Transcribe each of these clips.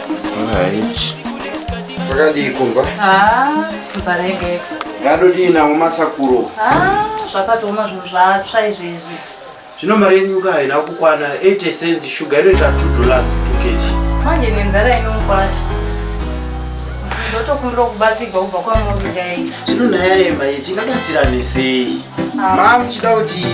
Right. Pakadii kumba? Ah, kumba rege. Ngadodii nawo masakuro? Ah, zvakatooma zvinhu zvatsva izvi izvi. Zvino mari yenyu ka haina kukwana 80 cents sugar inoita 2 dollars 2 kg. Manje nenzara inomukwasha. Ndotokumbira kubatsirwa kubva kwamuri dai. Zvino nhaya yema yetingabatsirane sei? Mama muchida kuti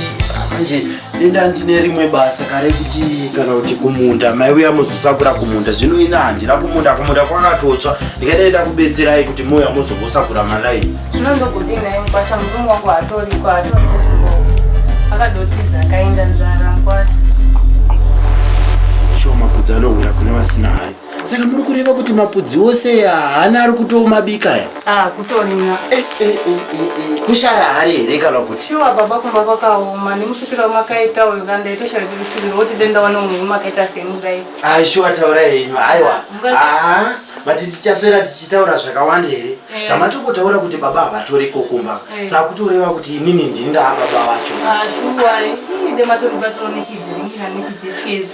manje enda ndine rimwe basa kare kuti kana kuti kumunda mai uya muzosakura kumunda zvino ina handina kumunda kumunda kwakatotsva ndikadaenda kubetserai kuti mouya mozongosakura malai zvino ndokudii naye mukwasha murume wangu hatoriko hatoriko akadotiza akaenda nzara mukwasha shoma kudzi anowira kune vasina hari saka muri kureva kuti mapudzi ose haana ari kutomabika ya ah, kutorina eh, eh, eh, kushaya hari here kana kuti shuwa baba kumba kwakaoma nemusvikiro wamakaita uyu ka ndaitoshaya kuti kusvikiro woti denda wane munhu wemakaita semudai aishuwa ah, taura henyu aiwa ah, vati tichaswera tichitaura zvakawanda here zvamatokotaura kuti baba havatori kokumba sakutoreva kuti inini ndindaa baba vacho shuwa ide matoribatsiro nechidziringira nechidiskezi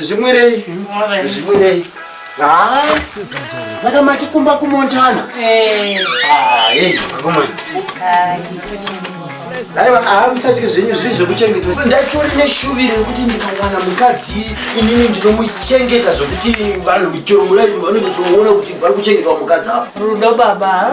zvimwirei zvimwirei saka matikumba kumontana aiwa haamusatye zvenyu zviri zvekuchengetwa ndaitori neshuviro yekuti ndikawana mukadzi inini ndinomuchengeta zvekuti vanhu chero muraini vanonyatsooona kuti vari kuchengetwa mukadzi avo rudo baba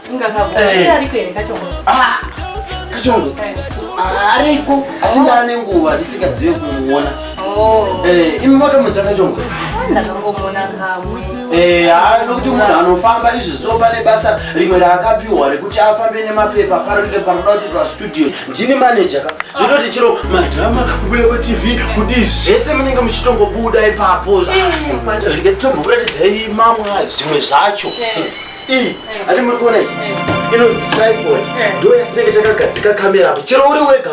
Ah, kachongo ah, ariko asi oh. ndaane nguva ndisingazive kumuona oh. eh, imi motomuziva kachongo eh, haa nokuti munhu anofamba izvi zuva pane basa rimwe raakapiwa rekuti afambe nemapepa parike panoda kuti pastudio ndini maneja ka zvinoti chiro madrama kubuda patv kudii zvese munenge muchitongobuda ipapo eh, rike titombokuratidzai mamwa zvimwe zvacho Ati muri kuona iyi? Inonzi tripod. Ndiyo yatinenge takagadzika kamera apo. Chero uri wega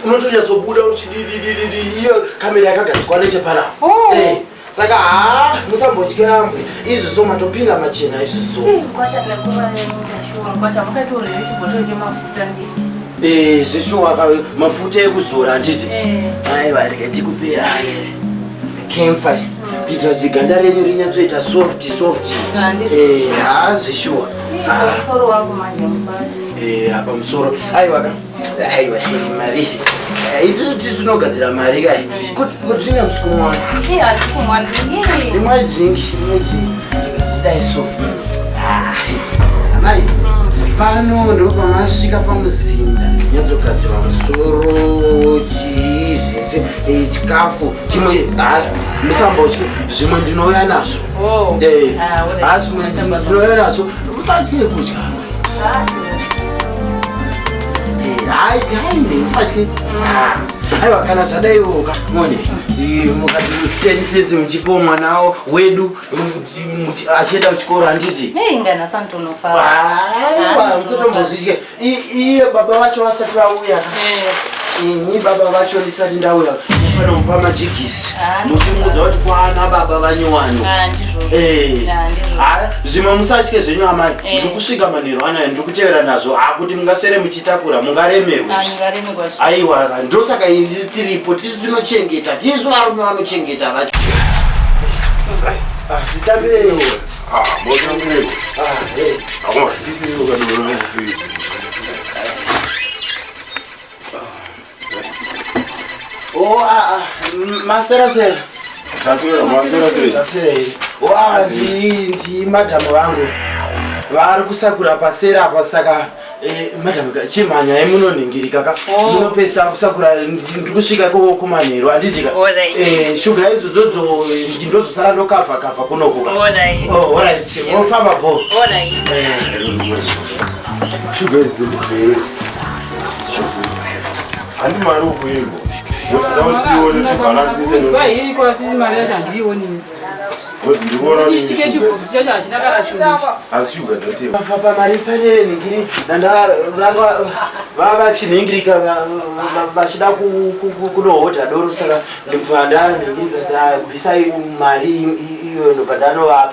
unotonyatsobuda uchididididi iyo kamera yakagadzikwa nechepana. Oh. Eh, saka haa musambotyambwe izvi so matopinda machena izvi so. Eh, zveshuwa mafuta ekuzora handiti? Eh. Aiwa rega tikupera. kemfa kuitira kuti ganda renyu rinyatsoita soft soft eh, haa zveshuwa eh, apa musoro aiwa ka aiwa mari eh, isu tisi tinogadzira mari kai kuti ringa musikumwana imwe jingi imwe jingi dai so ah, amai pano ndopamasvika pamuzinda nyatsogadzirwa musoro chii zvese chikafu chimwe haa musambotye zvimwe ndinouya nazvo oh. eh, ah, haa zvimwe ndinouya nazvo musatye kudya haaimusatye aiwa kana zvadaiwoka mone mukati tenisedzi muchipo mwana wo wedu achienda kuchikoro handiti musatombozvitye iye baba vacho vasati vauya eh. ini baba vacho ndisati ndauya ndifana mupa majigisi ah, muchimuudza kuti kwana baba vanyowani ah, eh. ah, zvimwe musatye zvenyu amai eh. ndiri kusvika manhero anayo ndiri kutevera nazvo akuti mungasere muchitakura mungaremerwe aiwa ndosaka ii tiripo tisu tinochengeta tisu varume vanochengeta vacho Oh, ah, ah, masera sera. Tasira, masera sera. Tasira. Oh, ah, ndi ndi madam wangu. Vari kusakura pasera apa saka Eh, madam chimhanya ye munoningirika ka oh. munopesa kusakura ndiri kusvika ikoko kumanheru anditika eh, shuga idzodzo ndozosara ndokavha kavha kunoku ofamba oh, bo eh, shuga idzi handi mari ukuimbo pamari pane ningiri vava chinhingirika vachida kunohodha doro saka ndibva ndaningirika ndabvisai mari iyo ndobva ndanovapa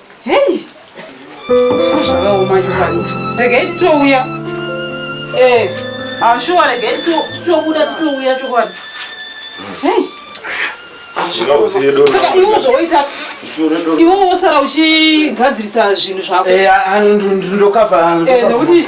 Hey! Zvakaoma chokwadi. Regai titouya. Eh, ashuwa ah, regai titobuda titouya chokwadi. Hey! saka iwo zvoita iwo wosara uchigadzirisa zvinhu zvako eh, ah, ah, ndokava eh, nekuti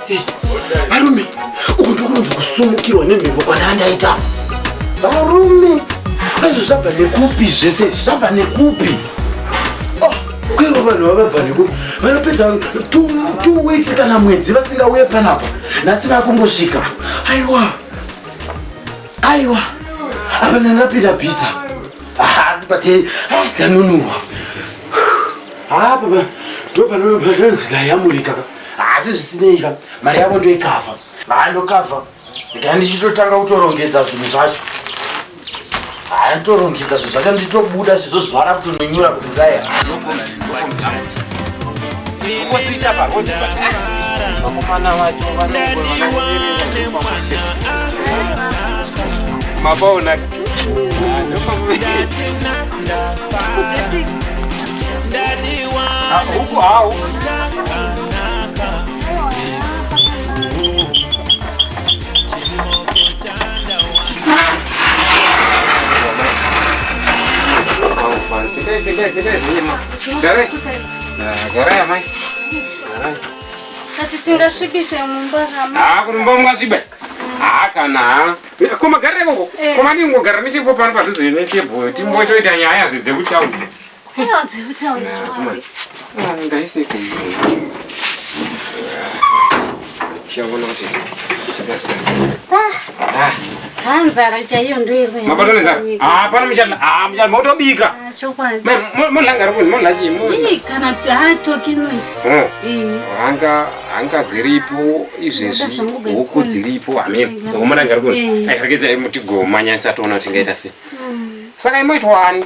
varume uku ndokunonzi kusumukirwa nemhepo kwanandaita varume izvo zvabva nekupi zvese izvi zvabva nekupi oh, kwaivo vanhu vavabva nekupi vanopedza two weeks kana mwedzi vasingauye panapa nhasi vakungosvika aiwa aiwa apa ndanapinda bhiza haasi pati tanunurwa haa papa ndopanozilayamurika asi zvisinei ka mari yavo ndoikavha haa ndokavha ndikaya ndichitotanga kutorongedza zvinhu zvacho haa nditorongedza zvinhu zvacho ndichitobuda sizvo zuva rakutononyura kuti dai ukosiita parodi vakomana vacho mapaonaka Gare. Gare ya mai. Gare. Kati tingasvibise mumba kama. Ah, kumumba mungasvibe. Ah, kana. Koma gare koko. Koma ndingogara nechepo pano padhuze netebho. Timbotoita nyaya zvidze kutaudza. ngaise tichaona kuti hanzara ah. ah, chaiyo ndoirohapana muchala motobika molangara kuti mola chiihanga hanga dziripo izvezvi huku dziripo hameno omolangara kuti airegedzai mutigomanya isatoona kuti tingaita sei saka imoitwani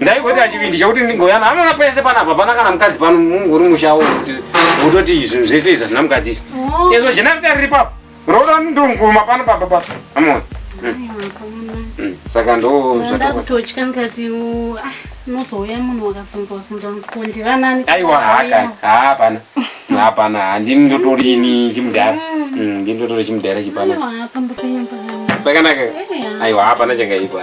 ndaigota chivindi chekuti ndingoyana anoona pese panapa pana kana mukadzi pano munguri mushawo kuti utoti zvinhu zvese izvi hazvina mukadzi izvi oh. ezvo jena rita riri papo roda ndonguma pano papa pa amona hmm. hmm. saka ndozvatototya ngati ah, unozouya munhu wakasonzwasonzwanzkondivanani aiwa haka hapana hapana handini ndotorini chimudhara hmm. ndini ndotori chimudhara chipana pakanaka aiwa hapana chakaipa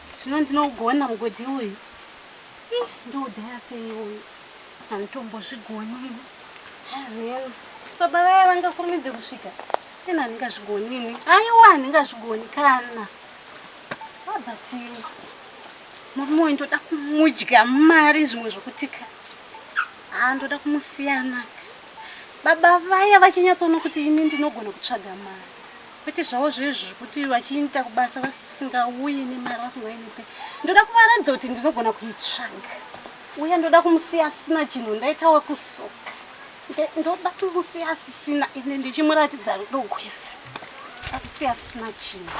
zvino ndinougona mugodhi uyu ih ndoudhaya sei uyu handitombozvigoni amen baba vaya vangakurumidze kusvika ena handingazvigoni ini aiwa handingazvigoni kana abatini murume uyu ndoda kumudya mari zvimwe zvokutika haa ndoda kumusiyanaka baba vaya vachinyatsoona kuti ini ndinogona kutsvaga mari Kwete zvavo zvezvi zvekuti vachiita kubasa vasingauye nemari vasingainipe. Ndoda kuvaratidza kuti ndinogona kuitsvaga. Uye ndoda kumusiya asina chinhu ndaita wekusuka. Ndoda kumusiya asisina ende ndichimuratidza rudo gwese. Akusiya asina chinhu.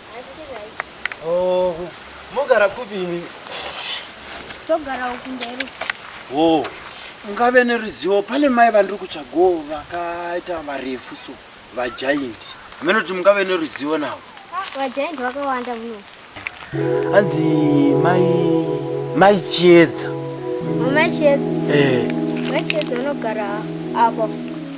Haisi right. Oh, mogara kupi imi? Togara uku mberi. Oh, ungave neruzivo pane mai vandiri kutsvagawo vakaita varefu so vagiant. Hameno kuti mungave neruzivo navo. Ah, vagiant vakawanda muno. Hanzi mai mai Chiedza. Mama Chiedza. Eh. Mai Chiedza vanogara apo.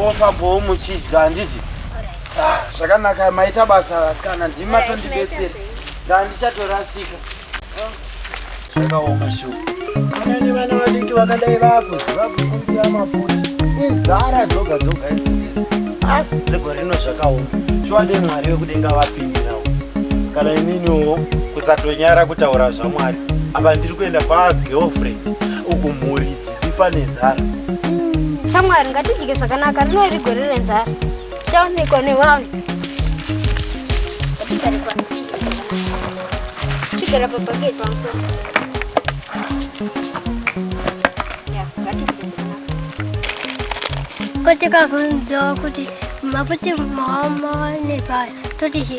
mofambawo muchidya handiti ah, zvakanaka maita basa vasikana ndimi matondibetsera ndandichatorasika zvakaoma shu ana nevana vadiki vakadai vakuziva kukumbira maputi inzara dzoga dzoga ah, regore rino zvakaoma shuwa ndemwari wekudenga vapindira kana ininiwo kusatonyara kutaura zvamwari apa ndiri kuenda kwagirlfriend uku mhuri ifa nenzara shamwari ngatidye zvakanaka rino iri gore renzara chaonekwa nevamwe atigare pasi chigara pabhaketi pamusoro kotikavhunzawo kuti maputi mawa mawanepayo toti chi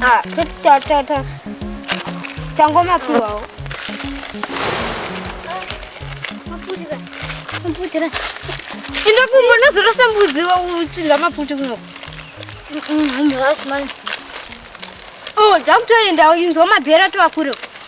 ah toti ta ta ta tangoma piwawo maputira maputira inda kumbo nazorosa mbudzi uchidya maputi kuno mhasi manje o dzakutoendawo inzwa mabhera tovakure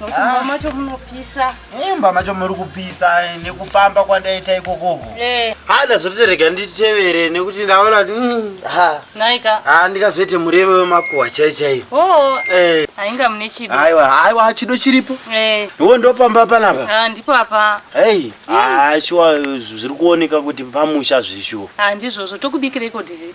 Mumba macho munopisa. Mumba macho muri kupisa eh, nekufamba kwandaita ikokoko. Eh. Ha ndazoterega nditevere nekuti ndaona kuti mm, ha. Naika. Ha ndikazoite mureve wemakuwa chai chai. Oh. Eh. Ainga mune chido. Aiwa, aiwa chido chiripo. Eh. Iwo ndo pamba panapa. Ah ndipo apa. Hey. Mm. Ah shuwa zviri kuoneka kuti pamusha zvishuwa. Ah ndizvozvo tokubikira iko dizi.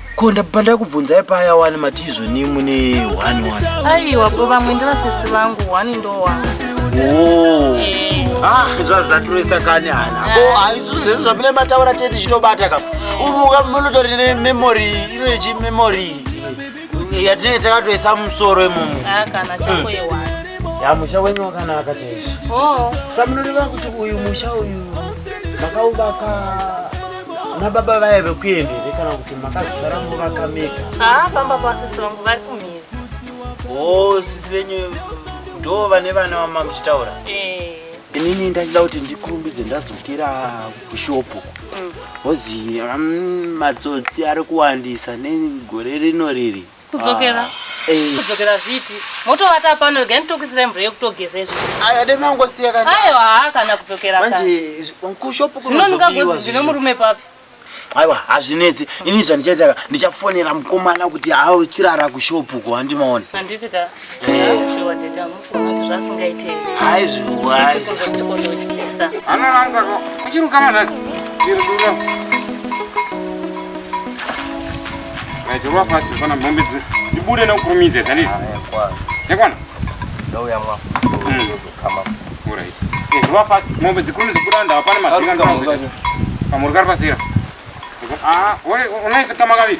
ko ndabva ndakubvunzai paya wani matizvo ni mune one one aiwa po vamwe ndivasisi vangu one ndo one oh. eh. ah, zvazaturesa kani hana ah. oh, ah, isu zvese zvamine mataura tete chitobata ka umuka munotori ne memory ino yechi memory yatinenge takatoisa musoro imomo ah, kana chako hmm. yewa ya musha wenyu wakanaka chaicho oh. samunoreva kuti uyu musha uyu makaubaka na baba vaye vekuenda here kana kuti makazosara muvaka mega haa pamba pasisi vangu vari kumhiri o sisi venyu ndo vane vana vama muchitaura eh. inini ndachida kuti ndikurumbidze ndadzokera kushopu hozi mm. mm, matsotsi ari kuwandisa negore rino riri kudzokera ah, eh. kudzokera zviti motovata pano rega nditokuisirai mvura yekutogeza izvo aya dai mangosiya kana ayo haa kana kudzokera manje kushopu kunozobiwa zvine murume papi aiwa hazvinetsi ini zvandichaitaka ndichafonera mukomana kuti aochirara kushopu ko handimaona handiti ka Chirwa fast kufana mombe dzibude nokurumidza dzandizi. Yakwana? Ndouya mwa. Kama. All right. Chirwa fast mombe dzikurumidza kubuda ndava pane madinga ndinozoita. Pamuri kari pasira. Ah, wewe unaisi kama kaviri.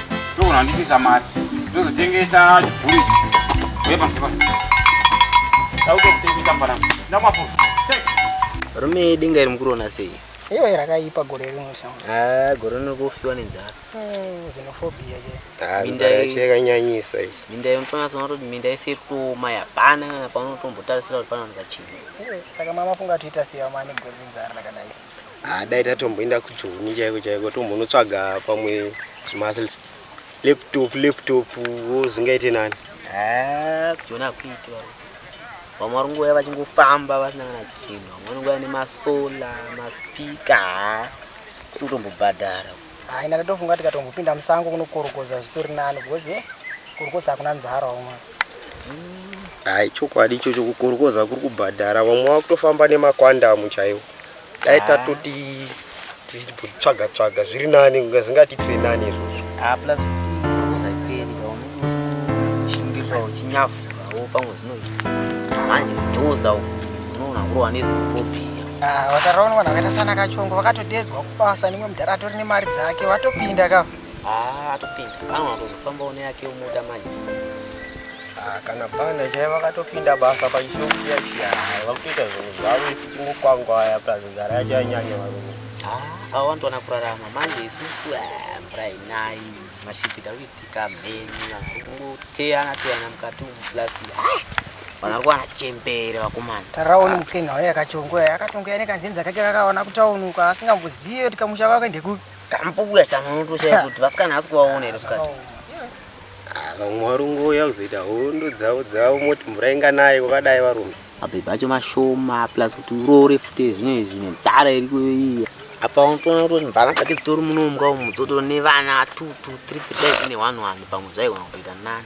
ndogona kundipisa mari ndozotengesa chibhuri wepamusoro tautokutengesa mvana ndamapo rume denga iri mukurona sei iwe rakaipa gore rino shamsa gore rino kufiwa nenzara zinofobia chekanyanyisa minda yomutonasa unototi minda yese irikuoma yapana kana paunotombotarisira kuti panowanika chii saka mama funga toita sei amane gore renzara rakadai Ah, dai tatomboenda kujoni chaiko chaiko tombonotsvaga pamwe zvimuscles laptop laptop wo zvingaite nani Ah, kujoni hakuiti varo vamwe vari kungouya vachingofamba vasina kana chinhu vamwe vanongouya nemasola maspika haa kusi kutombobhadhara Haa ina ndatofunga tikatombopinda musango kunokorokoza zvitori nani because eh, korokoza hakuna nzara umwe. Haa ichokwadi ichocho kukorokoza kuri kubhadhara vamwe vakutofamba nemakwandamu chaiwo. Dai Haa. tatoti tichitsvaga tsvaga zviri nani kunge zvingatitire nani izvozvo. Haa plus futi korokoza haiperi ka unenge uchishingirira uchinyavhurawo pamwe zvinoita. Manje kudhoza uku unoona kurova nezvinofobhiya. Ah, vataraona vanhu vakaita sana kachongo vakatodedzwa kubasa nimwe mudhara atori nemari dzake vatopinda ka ah, atopinda pamwe atozofamba une yake umuda manje ah, kana panda chai vakatopinda basa pachishokuya chiya vakutoita zvinhu zvavo ifuti mukwangwaya plus nzara yacho yanyanya varume ah, avo vanotoona kurarama manje isusu eh, mvura inayi mashipita kuitika mheni vanhu kuteyana teyana mukati umu plus Vakarwara chembere vakomana. Taraoni mupenga waye akachongoya yakatongoya nekanzenza kake kakaona kutaunuka asingambozive kuti kamusha kwake ndekupi. Kambuya chanonotosha kuti vasikana asi kuvaona here sikati. Ah, vamwe varungoya kuzoita hondo dzavo dzavo moti mvura inganaye kwakadai varume. Mabhebha acho mashoma plus kuti uroore futi zvine zvine nzara iriko iya. Apa unotoona kuti mvana dzake dzitori muno mumba umu dzotori nevana two two three three dai dzine one one pamwe zvaigona kutoita nani.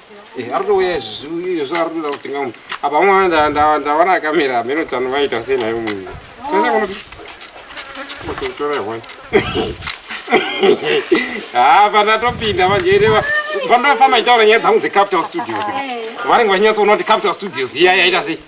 Eh, arikutouya izvozvo arikutoda kutenga munhu apa mwa ndawana akamera ameno tano vaita sei nayo munhu haa pandatopinda vanjeireva pandofamba itaura nyaya dzangu dzecapital studios eh. vanenge vachinyatsoona kuti capital studios iya yaita sei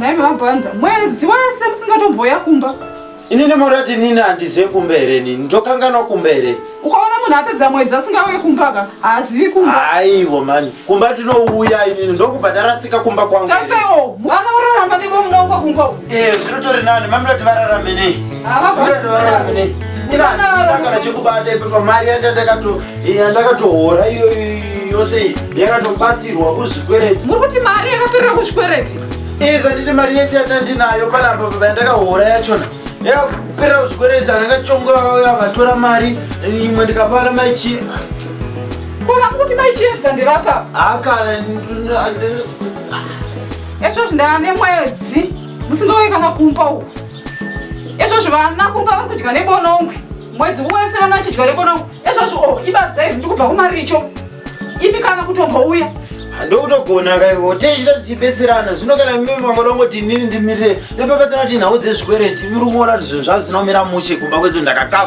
Nhai baba Banda, mwedzi wese musingatomboya kumba. Ini nemorati nini handize kumba here nini? Ndokanganwa kumba here? Ukaona munhu apedza mwedzi asingauye kumba ka haazivi kumba. Haiwo mani, kumba tinouya inini ndokubva ndarasika kumba kwangu. Tasewo, vana vorarama nemo munongo kumba. Eh, zvinotori nani, mami vati vararame nei? Hava vararame nei? Ina ndakana chekubata ipo pamari yandandakato yandakatohora iyo yose iyi yakatobatsirwa kuzvikwereti muri kuti mari yakaperera kuzvikwereti iza nditi mari yese yatandinayo panapa baba yandakahora yachona yakaperera kuzvikwereti andakachonga yakatora mari imwe ndikapara maichi kona kuti maichiedza ndirapa hakana ezvozvi ndaane mwedzi musingauye kana kumba uku ezvozvi vana kumba vakudya nebonongwe mwedzi wese vana vachidya nebonongwe ezvazvo o oh, ibadza iri ndikubva kumaricho ipi kana kutombouya ndokutogona kaiko tichita tichibetserana zvino kana mimi vangoda kungoti inini ndimirire nepepetsana kuti nhau dzezvikwereti muri kuona kuti zvinhu zvazvina kumira mushe kumba kwedzo ndakakava